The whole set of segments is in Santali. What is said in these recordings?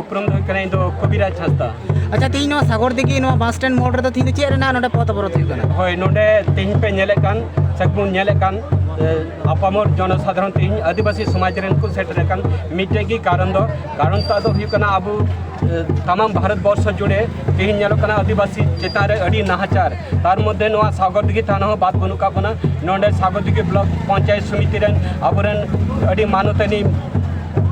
ᱩᱯᱨᱩᱢ ᱫᱚ ᱦᱩᱭᱩᱜ ᱠᱟᱱᱟ ᱤᱧ ᱫᱚ ᱠᱚᱵᱤᱨᱟᱡᱽ ᱦᱟᱸᱥᱫᱟ ᱟᱪᱪᱷᱟ ᱛᱮᱦᱮᱧ ᱱᱚᱣᱟ ᱥᱟᱜᱚᱨ ᱫᱤᱜᱷᱤ ᱱᱚᱣᱟ ᱵᱟᱥ ᱥᱴᱮᱱᱰ ᱢᱳᱲ ᱨᱮᱫᱚ ᱛᱮᱦᱮᱧ ᱫᱚ ᱪᱮᱫ ᱨᱮᱱᱟᱜ ᱱᱚᱰᱮ ᱯᱚᱛ ᱚᱵᱚᱨᱚᱛ ᱦᱩᱭᱩᱜ ᱠᱟᱱᱟ ᱦᱳᱭ ᱱᱚᱰᱮ ᱛᱮᱦᱮᱧ ᱯᱮ ᱧᱮᱞᱮᱫ ᱠᱟᱱ ᱥᱮ ᱵᱚᱱ ᱧᱮᱞᱮᱫ ᱠᱟᱱ ᱟᱯᱟᱢᱚᱨ ᱡᱚᱱᱚᱥᱟᱫᱷᱟᱨᱚᱱ ᱛᱮᱦᱮᱧ ᱟᱹᱫᱤᱵᱟᱹᱥᱤ ᱥᱚᱢᱟᱡᱽ ᱨᱮᱱ ᱠᱚ ᱥᱮᱴᱮᱨ ᱟᱠᱟᱱ ᱢᱤᱫᱴᱮᱡ ᱜᱮ ᱠᱟᱨᱚᱱ ᱫᱚ ᱠᱟᱨᱚᱱ ᱛᱟᱜ ᱫᱚ ᱦᱩᱭᱩᱜ ᱠᱟᱱᱟ ᱟᱵᱚ ᱛᱟᱢᱟᱢ ᱵᱷᱟᱨᱚᱛ ᱵᱚᱨᱥᱚ ᱡᱩᱲᱮ ᱛᱮᱦᱮᱧ ᱧᱮᱞᱚᱜ ᱠᱟᱱᱟ ᱟᱹᱫᱤᱵᱟᱹᱥᱤ ᱪᱮᱛᱟᱱ ᱨᱮ ᱟᱹᱰᱤ ᱱᱟᱦᱟᱪᱟᱨ ᱛᱟᱨ ᱢᱚᱫᱽᱫᱷᱮ ᱱᱚᱣᱟ ᱥᱟᱜᱚᱨ ᱫᱤᱜᱷᱤ ᱛᱷᱟᱱᱟ ᱦᱚᱸ ᱵᱟᱫ ᱵᱟᱹᱱᱩᱜ ᱠᱟᱜ ᱵᱚᱱᱟ ᱱᱚᱰᱮ ᱥᱟᱜᱚᱨ ᱫᱤᱜᱷᱤ ᱵᱞᱚᱠ ᱯᱚᱧᱪᱟᱭᱮᱛ ᱥᱚᱢᱤᱛᱤ ᱨᱮᱱ ᱟᱵᱚᱨᱮᱱ ᱟᱹᱰᱤ ᱢᱟᱱᱚᱛᱟᱹᱱᱤ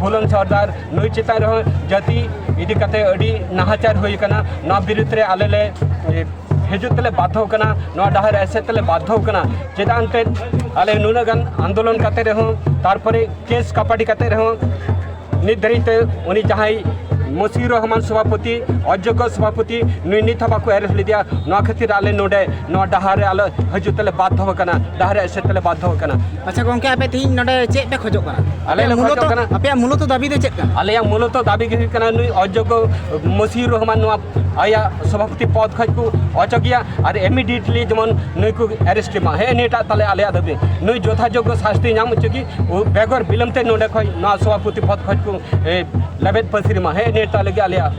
ᱵᱷᱩᱞᱚᱱ ᱥᱚᱨᱫᱟᱨ ᱱᱩᱭ ᱪᱮᱛᱟᱱ ᱨᱮᱦᱚᱸ ᱡᱟᱹᱛᱤ ᱤᱫᱤ ᱠᱟᱛᱮ ᱟᱹᱰᱤ ᱱᱟᱦᱟᱪᱟᱨ ᱦᱩᱭ ᱟᱠᱟᱱᱟ ᱱᱚᱣᱟ ᱵᱤᱨᱩᱫᱽ ᱨᱮ ᱟᱞᱮ ᱞᱮ ᱦᱤᱡᱩᱜ ᱛᱮᱞᱮ ᱵᱟᱫᱷᱚ ᱠᱟᱱᱟ ᱱᱚᱣᱟ ᱰᱟᱦᱟᱨ ᱨᱮ ᱮᱥᱮᱫ ᱛᱮᱞᱮ ᱵᱟᱫᱷᱚ ᱠᱟᱱᱟ ᱪᱮᱫᱟᱜ ᱮᱱᱛᱮᱫ ᱟᱞᱮ ᱱᱩᱱᱟᱹᱜ ᱜᱟᱱ ᱟᱱᱫᱳᱞᱚᱱ ᱠᱟᱛᱮ ᱨᱮᱦᱚᱸ ᱛᱟᱨᱯᱚᱨᱮ ᱠᱮᱥ ᱠᱟᱯᱟᱰᱤ ᱠᱟᱛᱮ ᱨᱮᱦᱚᱸ ᱱᱤᱛ ᱫᱷᱟᱹᱨᱤᱡ ᱛᱮ ᱩᱱᱤ ᱡᱟᱦᱟᱸᱭ ᱢᱚᱥᱤ ᱨᱚᱦᱢᱟᱱ ᱥᱚᱵᱷᱟᱯᱚᱛᱤ ᱚᱡᱳᱜᱽᱭᱚ ᱥᱚᱵᱷᱟᱯᱚᱛᱤ ᱱᱩᱭ ᱱᱤᱛ ᱦᱚᱸ ᱵᱟᱠᱚ ᱮᱨᱮᱥᱴ ᱞᱮᱫᱮᱭᱟ ᱱᱚᱣᱟ ᱠᱷᱟᱹᱛᱤᱨ ᱟᱞᱮ ᱱᱚᱰᱮ ᱱᱚᱣᱟ ᱰᱟᱦᱟᱨ ᱨᱮ ᱟᱞᱮ ᱦᱤᱡᱩᱜ ᱛᱮᱞᱮ ᱵᱟᱫᱷᱚ ᱟᱠᱟᱱᱟ ᱰᱟᱦᱟᱨ ᱨᱮ ᱮᱥᱮᱫ ᱛᱮᱞᱮ ᱵᱟᱫᱷᱚ ᱟᱠᱟᱱᱟ ᱟᱪᱪᱷᱟ ᱜᱚᱝᱠᱮ ᱟᱯᱮ ᱛᱤᱦᱤᱧ ᱱᱚᱰᱮ ᱪᱮᱫ ᱯᱮ ᱠᱷᱚᱡᱚᱜ ᱠᱟᱱᱟ ᱟᱞᱮ ᱞᱮ ᱢᱩᱞᱚᱛᱚ ᱠᱷᱚᱡᱚᱜ ᱠᱟᱱᱟ ᱟᱯᱮᱭᱟᱜ ᱢᱩᱞᱚᱛᱚ ᱫᱟᱹᱵᱤ ᱫᱚ ᱪᱮᱫ ᱠᱟᱱᱟ ᱟᱞᱮᱭᱟᱜ ᱢᱩᱞᱚᱛᱚ ᱫᱟᱹᱵᱤ ᱜᱮ ᱦᱩᱭᱩᱜ ᱠᱟᱱᱟ ᱱᱩᱭ ᱚᱡᱳᱜᱽᱭᱚ ᱢᱚᱥᱤᱨ ᱨᱚᱦᱢᱟᱱ ᱱᱚᱣᱟ ᱟᱭᱟᱜ ᱥᱚᱵᱷᱟᱯᱚᱛᱤ ᱯᱚᱫ ᱠᱷᱚᱡ ᱠᱚ ᱚᱪᱚᱜᱮᱭᱟ ᱟᱨ ᱤᱢᱤᱰᱤᱭᱮᱴᱞᱤ ᱡᱮᱢᱚᱱ ᱱᱩᱭ ᱠᱚ ᱮᱨᱮᱥᱴ ᱮᱢᱟ ᱦᱮᱸ ᱱᱤᱭᱟᱹᱴᱟᱜ ᱛᱟᱞᱮ ᱟᱞᱮᱭᱟᱜ ᱫᱟᱹᱵᱤ ᱱᱩᱭ ᱡᱚᱛᱷᱟᱡᱳᱜᱽᱭᱚ ᱥᱟᱥᱛᱤ ᱧᱟᱢ ᱦᱚᱪᱚ ᱜᱮ ᱩ- ᱵᱮᱜᱚᱨ ᱵᱤᱞᱚᱢ ᱛᱮ ᱱᱚᱰᱮ ᱠᱷᱚᱡ ᱱᱚᱣᱟ ᱥᱚᱵᱷᱟᱯᱚᱛᱤ ᱯᱚᱫ ᱠᱷᱚᱡ ᱠᱚ ᱮ, ᱞᱮᱵᱮᱫ ᱯᱟᱹᱥᱤᱨ ᱮᱢᱟ ᱦᱮᱸ ᱱᱤᱭᱟᱹᱴᱟᱜ ᱞᱟᱹᱜᱤᱫ ᱟᱞᱮᱭᱟᱜ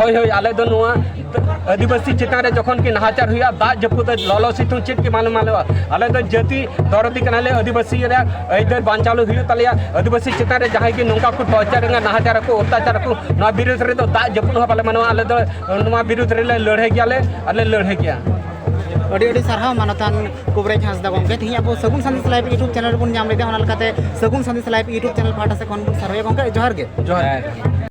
ᱦᱳᱭ ᱦᱳᱭ ᱟᱞᱮ ᱫᱚ ᱱᱚᱣᱟ ᱟᱹᱫᱤᱵᱟᱹᱥᱤ ᱪᱮᱛᱟᱱ ᱨᱮ ᱡᱚᱠᱷᱚᱱ ᱠᱤ ᱱᱟᱦᱟᱪᱟᱨ ᱦᱩᱭᱩᱜᱼᱟ ᱫᱟᱜ ᱡᱟᱹᱯᱩᱫ ᱞᱚᱞᱚ ᱥᱤᱛᱩᱝ ᱪᱮᱫ ᱜᱮ ᱵᱟᱝ ᱢᱟᱱᱟᱣᱟ ᱟᱞᱮ ᱫᱚ ᱡᱟᱹᱛᱤ ᱫᱚᱨᱚᱫᱤ ᱠᱟᱱᱟᱞᱮ ᱟᱹᱫᱤᱵᱟᱹᱥᱤ ᱨᱮᱭᱟᱜ ᱟᱹᱭᱫᱟᱹᱨ ᱵᱟᱧᱪᱟᱣ ᱦᱩᱭᱩᱜ ᱛᱟᱞᱮᱭᱟ ᱟᱹᱫᱤᱵᱟᱹᱥᱤ ᱪᱮᱛᱟᱱ ᱨᱮ ᱡᱟᱦᱟᱸᱭ ᱜᱮ ᱱᱚᱝᱠᱟ ᱠᱚ ᱴᱚᱨᱪᱟᱨ ᱨᱮᱱᱟᱜ ᱱᱟᱦᱟᱪᱟᱨ ᱟᱠᱚ ᱚᱛᱛᱟᱪᱟᱨ ᱟᱠᱚ ᱱᱚᱣᱟ ᱵᱤᱨᱩᱫᱽ ᱨᱮᱫᱚ ᱫᱟᱜ ᱡᱟᱹᱯᱩᱫ ᱦᱚᱸ ᱵᱟᱞᱮ ᱢᱟᱱᱟᱣᱟ ᱟᱞᱮ ᱫᱚ ᱱᱚᱣᱟ ᱵᱤᱨᱩᱫᱽ ᱨᱮᱞᱮ ᱞᱟᱹᱲᱦᱟᱹᱭ ᱜᱮᱭᱟᱞᱮ ᱟᱞᱮ ᱞᱟᱹᱲᱦᱟᱹᱭ ᱜᱮᱭᱟ ᱟᱹᱰᱤ ᱟᱹᱰᱤ ᱥᱟᱨᱦᱟᱣ ᱢᱟᱱᱚᱛᱟᱱ ᱠᱩᱵᱨᱮᱡ ᱦᱟᱸᱥᱫᱟ ᱜᱚᱢᱠᱮ ᱛᱮᱦᱮᱧ ᱟᱵᱚ Sagun Sandesh live YouTube channel ᱨᱮᱵᱚᱱ ᱧᱟᱢ ᱞᱮᱫᱟ ᱚᱱᱟ ᱞᱮᱠᱟᱛᱮ Sagun Sandesh live YouTube channel ᱯᱟᱦᱴᱟ ᱥᱮᱫ ᱠᱷᱚᱱ ᱵᱚᱱ ᱥᱟᱨᱦᱟᱣ ᱜᱚᱢᱠᱮ ᱡᱚᱦᱟᱨ ᱜᱮ ᱡᱚᱦᱟᱨ